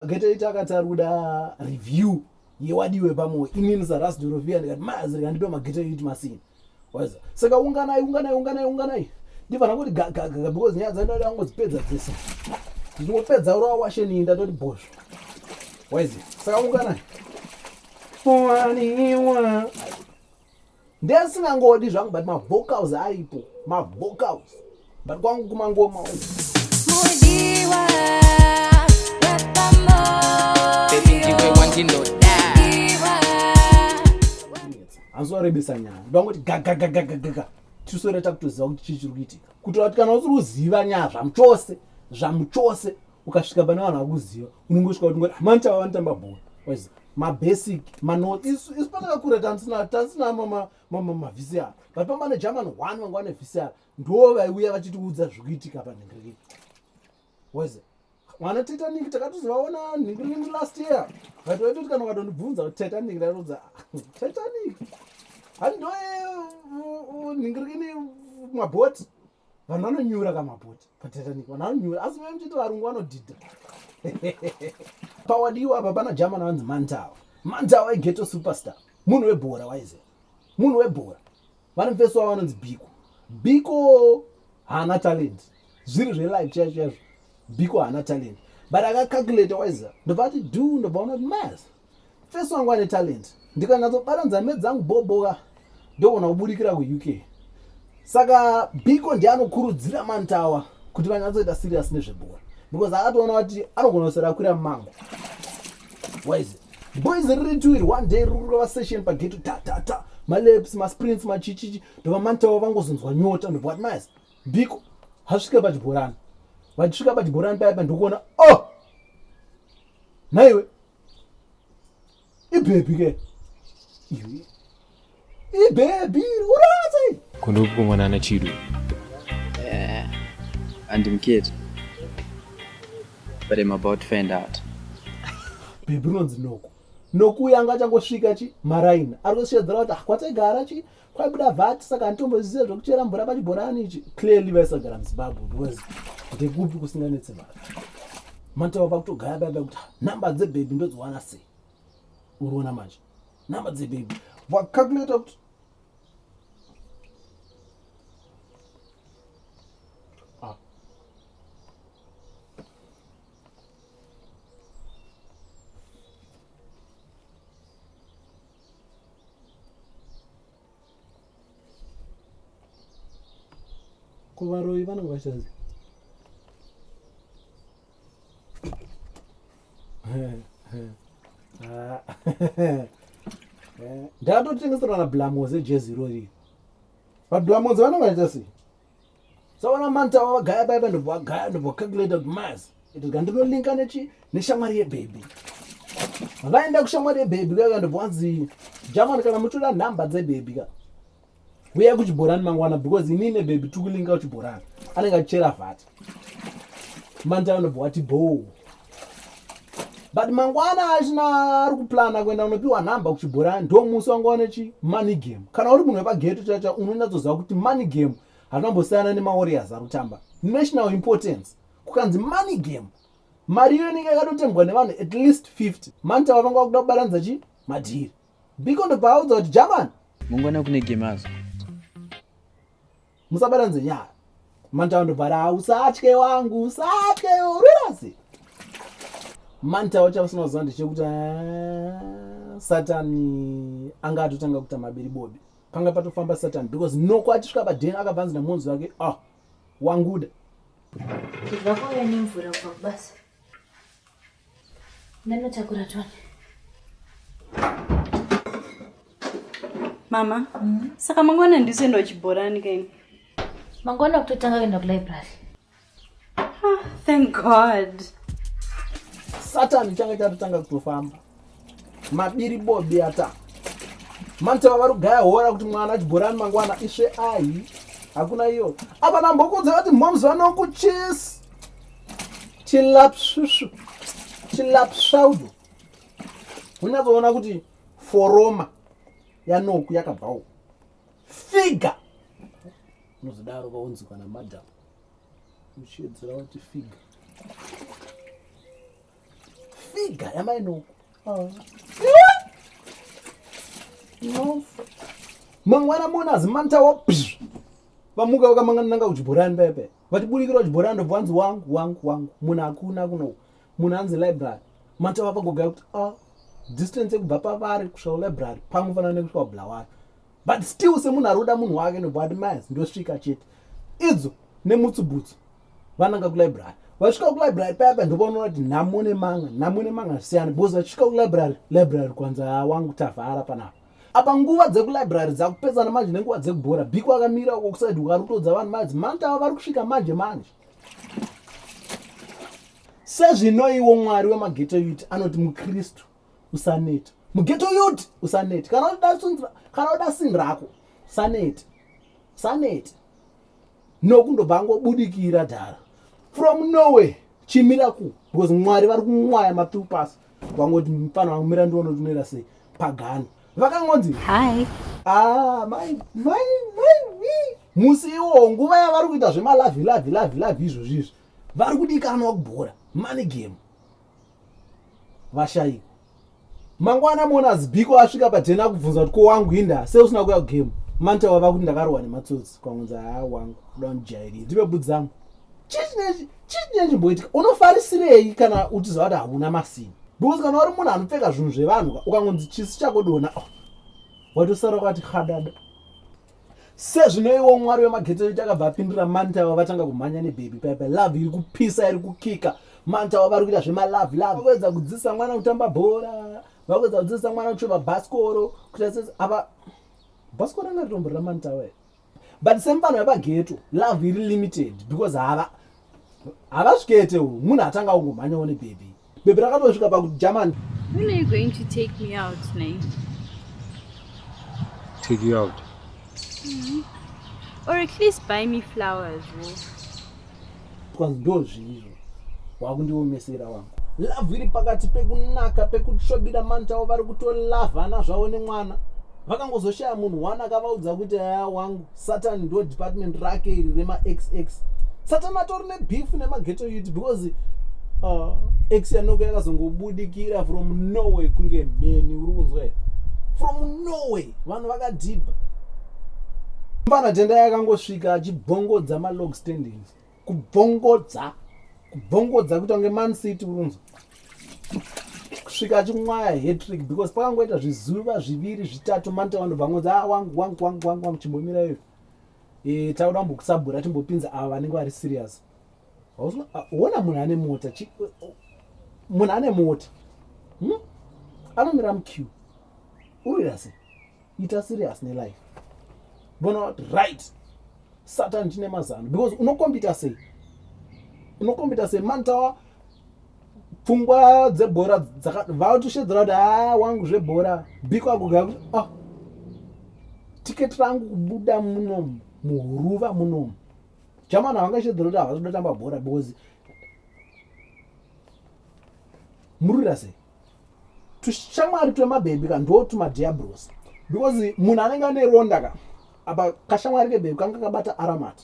akatoita akati ari kuda review yewadiwe pamoyo inini sarasi dorovia ndikati mazi rikandipe mageta yekuti masina waza saka unganai unganai unganai unganai ndifanira kuti gagagaga because nyaya dzandoda angodzipedza dzese ndichingopedza urowa washe nii ndatoti bhozvo waizi saka unganai waniwa ndesingangodi zvangu but mavocals aripo mavocals but kwangu kumangoma hanzorebesa nyaya ndangoti gagagagagaga tisoreta kutoziva kuti chii chiri kuitika kutoa kuti kana usiri kuziva nyaya zvamuchose zvamuchose ukasvika pane vanhu vakuziva unongosvika kuti ngoti hamani chava vanotamba bhora waiziva mabasic manoti isu isu patakakura tansina tansina mama mama mavisi ava but pamba ne german one vanga vane visi ava ndo vaiuya vachitiudza zvikuitika panhingiriki waiziva mwana titanic takatozovaona nhingiringi last year but vaitoti kana ukatondibvunza kuti titanic ndaitoudza titanic handoe nhingiringi mabhoti vanhu vanonyura kamapoti patitanic vanhu vanonyura asi mai muchiti varungu vanodhidha pawadiwa apa pana german vanzi mantawa mantawa igeto superstar munhu webhora waize munhu webhora vane mfesi wavo vanonzi biko biko haana talent zviri zvelife chaizvo chaizvo biko haana talent but akacalculate waiza ndobva ati du ndobva unoti mas Face wangu ane talent. Ndikanatsobata nzambe dzangu boboka ndogona kuburikira kuUK. Saka Biko ndiye anokurudzira Mantawa kuti vanyatsoita serious nezvebhora because akatoona kuti anogona kusera kwira mumango. Why is it? boys riri tuiri one day riri kurova session pageto tatata maleps masprints machichichi ndobva mantawa vangozonzwa nyota ndobva vati mayas biko hasvika pachibhorani vachisvika pachibhorani paipa ndokuona o oh! nhaiwe ibhebhi ke ibhebhi urikurwadza iyi kuno kukomana ana chido eh, andimuketi but im about to find out bhebhi rinonzi noko nokuya anga achangosvika chi maraini ari kusvedzera kuti ah, kwataigara chi kwaibuda vat saka handitomboziva zvekuchera mvura pachibhorani ichi clearly vaisagara muzimbabwe because ndekupi kusinganetse vanhu matawa pakutogaya baiba kuti number dzebhebhi ndodziwana sei uriona manje number dzebhebhi wakakuleta kuti ko varoyi vanenge vachanzi ndatotengeserwa na blamoze jezi irori vablamoze vanenge vachita sei saona manta wavagaya paipa ndobva wagaya ndobva wacalculate kuti mas itika ndinolinka nechi neshamwari yebhebhi vaenda kushamwari yebhebhi kaka ndobva wanzi jamani kana muchida nhamba dzebhebhi ka uya kuchibhorani mangwana because inini nebhebhi tikulinka kuchibhorani anenge achichera vhati manta ndobva wati bhoo but mangwana achina ari kuplana kuenda kunopiwa nhamba kuchibhorani ndo musi wanga wane chi money game kana uri munhu wepageto chacha unonyatsoziva kuti money game hatinambosiyana nemawarriors ari kutamba national importance kukanzi money game mari iyo inenge yakatotembwa nevanhu at least 50 manta vavanga vakuda kubatanidza chi madhiri biko ndobva audza kuti jamani mangwana kune game azo musabata nzenyara mantawa ndobvara usatye wangu usatye urasi mantawa chausina kuziva ndechekuti ah, satani anga atotanga kuita mabiri bobi panga patofamba satani because noko achisvika paden akabva anzi namonzi wake ah wanguda zvakauya nemvura kubva kubasa Ndanotakura twana. Mama, mm -hmm. saka mangwana ndiso enda kuchibhorani kaini? Mangwana kutotanga kuenda kulibrary. Ah, thank God. Satan changa chatotanga kutofamba. mabiri bobi ata mantava vari kugaya hora kuti mwana achigorani mangwana isve ahi hakuna iyo apa nambokudza vati moms vanokuchis chilapsvisvu chilapsvaudo unyatsoona kuti foroma yanoku yakabvawo figa unozodaro vaunzikwa namadam uchiedzera kuti figa Figa yamai no. Oh. No. Mangwana mona azimanta wo. Vamuka vakamangana nanga kuchibhorani pepe. Vatiburikira kuchibhorani ndobva wanzi wangu wangu wangu. Munhu hakuna kuno. Munhu anzi library. Manta vapagogaya kuti ah distance yekubva pavari kusvika kulibrary pamwe fanana nekusvika kubulawayo. but still semunhu ari kuda munhu wake nobva ati mas ndosvika chete idzo nemutsubutsu vananga kulibrary vasvika kulibrary payapa ndovaonora kuti nhamo nemanga nhamo nemanga zvisiyana because vachisvika kulibrary library kwanza wangu tavhara panapa apa nguva dzekulibrary dzakupedzana manje nenguva dzekubhora biko akamira uko kusaidi ukari kutodza vanhu madzi manta ava vari kusvika manje manje sezvinoiwo mwari wemageto yuti anoti mukristu usaneta mugeto yut usaneta kana udasunzira kana uda sin rako usaneta usaneta nokundobva ngobudikira dhara from norway chimira ku because mwari vari kumwaya mapiu pasi vangoti mfana wangu mira ndiona tinoita sei pagano vakangonzi hi ah, mai mai mai musi iwo nguva yavari kuita zvemalavi lavi lavi lavi izvozvi izvi vari kudikanwa kubhora money game vashayiwa mangwana mona zibiko asvika patena akubvunza kuti ko wangu inda se usina kuya kugame manta wava kuti ndakarohwa nematsotsi kwangunzi haa wangu kuda kundijairira ndipe budzi dzangu chii chine chimboitika unofarisirei kana uchiziva kuti hauna masini because kana uri munhu anopfeka zvinhu zvevanhu ukangonzi chisi chakodona oh, watosara kwati hadada sezvinoiwo mwari wemagetsi edu takabva apindura mantawa vatanga kumhanya nebaby paipa love iri kupisa iri kukika mantawa vari kuita zvemalove love vakuedza kudzidzisa mwana kutamba bhora vakuedza kudzidzisa mwana kuchova bhasikoro kuita sese apa bhasikoro anga ritomborira mantawa here but semfano yepageto love iri limited because hava havasvikete u munhu atanga kungomhanyawo nebaby Baby rakatosvika pa German. When are you going to take me out, Nay? Take you out. Mm -hmm. Or at least buy me flowers. Because ndozvizvo wakundiomesera wangu. Love iri pakati pekunaka pekutsvobira manta vari kutolavhana zvavo nemwana. vakangozoshaya munhu one akavaudza kuti aya wangu satan ndo department rake iri remaxx satan atori nebeef nemageto yut because uh, x yanoko yakazongobudikira from norway kunge mheni uri kunzwa here from norway vanhu vakadhibha mbanatenda yakangosvika achibhongodza malog standings kubvongodza kubvongodza kuita kunge man city urunzwa kusvika achimwaya hetrick because pakangoita zvizuva zviviri zvitatu manta vanobva ngonzi a ah, wangu wangu wangu wangu wangu chimbomira iyo e, tauda mbokusabhura timbopinza ava vanenge vari serious ona munhu ane mota munhu ane mota hmm? anomira muq unoita sei ita serious nelife bona what right satan tine mazano because unokombita sei unokombita sei mani tawa pfungwa dzebhora vatoshedzera kuti haa ah, wangu zvebhora biko akugaa kuti ah tiketi rangu kubuda muno muhuruva munomu jamani havangashedzera kuti havasi kuda tamba bhora because murwira sei tushamwari twemabhebhi ka ndo tumadiabros because munhu anenge ane ronda ka apa kashamwari kebhebhi kanga kabata aramat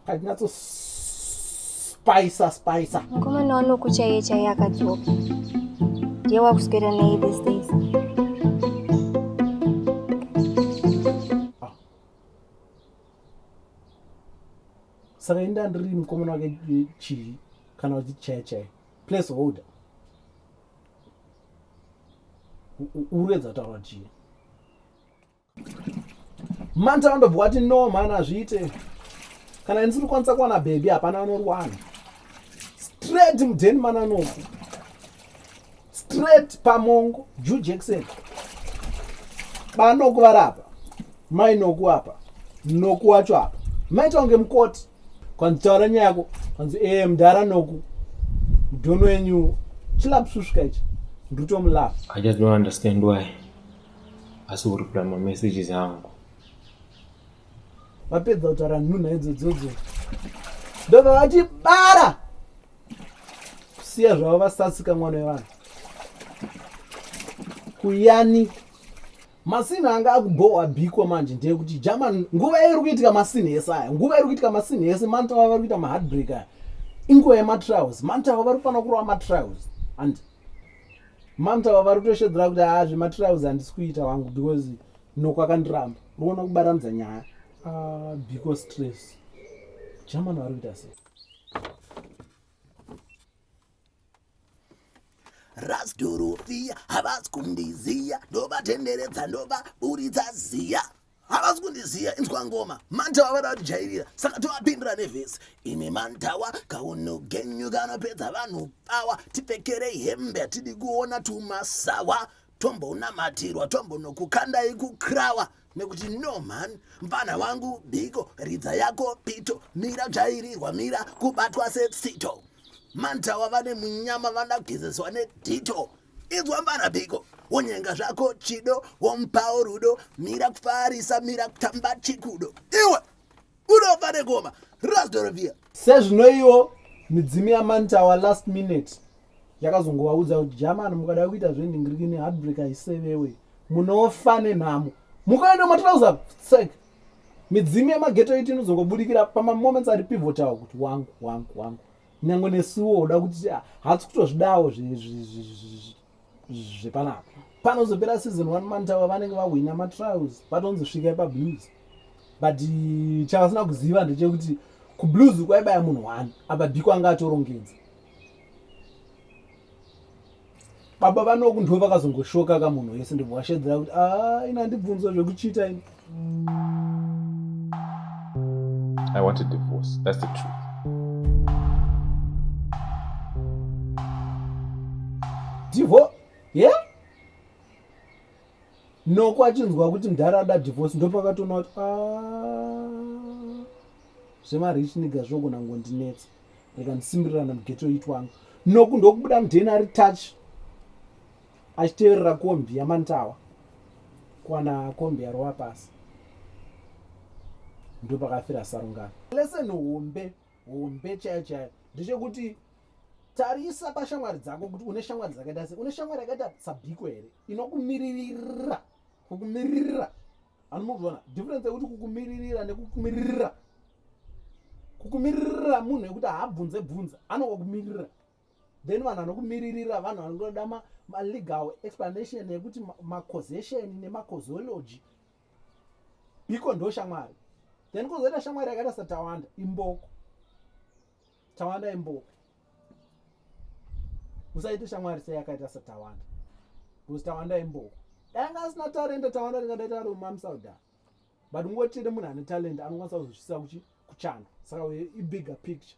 kachinatso spicer spicer mukomana wanoku chaiye chaiye akadzoka ndiye wakuswera nei this days ah. saka inda ndiri mukomana wake chii kana uchichaya chaiye place holder uruedza kutaura chii manta vandobva wati no mhani azviite kana ini sirikwanisa kuwana bhebhi hapana anorwana straight mudheni mananoku straight pamongo ju jackson banoku vari apa mainoku apa noku wacho apa maita kunge mukoti kwanzi taura nyaya yako kwanzi e eh, mdhara noku mudhono wenyu chilapsusvika ichi ndritomulafa i just don't understand why asi uripula mamessages angu vapedza kutaura nhunha idzo dzodzo ndobva vati bara kusiya zvavo vasasika mwana wevanhu kuyani Masinhi anga akubhohwa biko manje ndeyekuti German nguva iri kuitika masinhi ese aya nguva iri kuitika masinhi ese mantawa vari kuita maheartbreak aya inguva yematrials mantawa vari kufanira kurova matrials and mantawa vari kutoshedzera kuti haa zvematrials handisi kuita wangu because noko akandiramba ruona kubaranidza nyaya ah, biko stress German vari kuita sei rasduruvia havasi kundiziya ndovatenderedza ndova buritsa ziya havasi kundiziya inzwa ngoma mantawa vada kutijairira saka tovapindira nevhesi imi mantawa kaunhu genyu kanopedza vanhu pawa tipfekerei hembe hatidi kuona tumasawa tombonamatirwa tombonokukandai kukrawa nekuti no mhani mfana wangu biko ridza yako pito mira dzvairirwa mira kubatwa setsito mantawa vane munyama vanagezeswa nedito inzwa mfana biko wonyenga zvako chido womupawo rudo mira kufarisa mira kutamba chikudo iwe unofa negoma rasdorovia sezvinoiwo midzimu yamanta wa last minute yakazongovaudza kuti jamani mukada kuita zvendingirikini heartbreak aisevewe munofa nenhamo mukaenda matirauza sek midzimu yemageto iti inozongobudikira pamamoments ari pivotawo kuti wangu wangu wangu nyange nesuwo uda kuti ah, hatsi kutozvidawo zvepanapa panozopera season one mantawa vanenge vahwina matrials patonzi svika pablues but eh, chavasina kuziva ndechekuti kublues kwaibaya munhu one apa biko anga atorongedza baba vanoku ndo vakazongoshoka ka munhu wese ndibwashedzera kuti a ah, ina ndibvunzo zvekuchita ini I want a divorce. That's the truth. Divorce? Yeah? No, kwachinzwa kuti mdhara ada divorce ndopakatoona kuti ah, zvemarich niga zvogona ngondinetsa reka ndisimbirira namgeto itwangu noku ndokubuda mudheni ari touch achiteverera kombi yamantawa kwana kombi yarova pasi ndopakafira sarungano lesson hombe hombe chaiyo chaiyo ndechekuti tarisa pashamwari dzako kuti une shamwari dzakaita sei une shamwari yakaita sabhiko here inokumiririra kukumiririra anomuona difference yekuti kukumiririra nekukumiririra kukumiririra munhu yekuti haabvunze bvunza anokukumiririra then vanhu vanokumiririra vanhu vanoda malegal ma explanation yekuti macausation nemacausology biko ndo shamwari then kuzoita shamwari yakaita satawanda imboko tawanda imboko usaite shamwari sei yakaita satawanda bcause tawanda imboko danga asina talenta tawanda ringadaita ari umamsauda but ungotire munhu ane talenta anokwanisa kuzvisisa kuchanda saka ibigger picture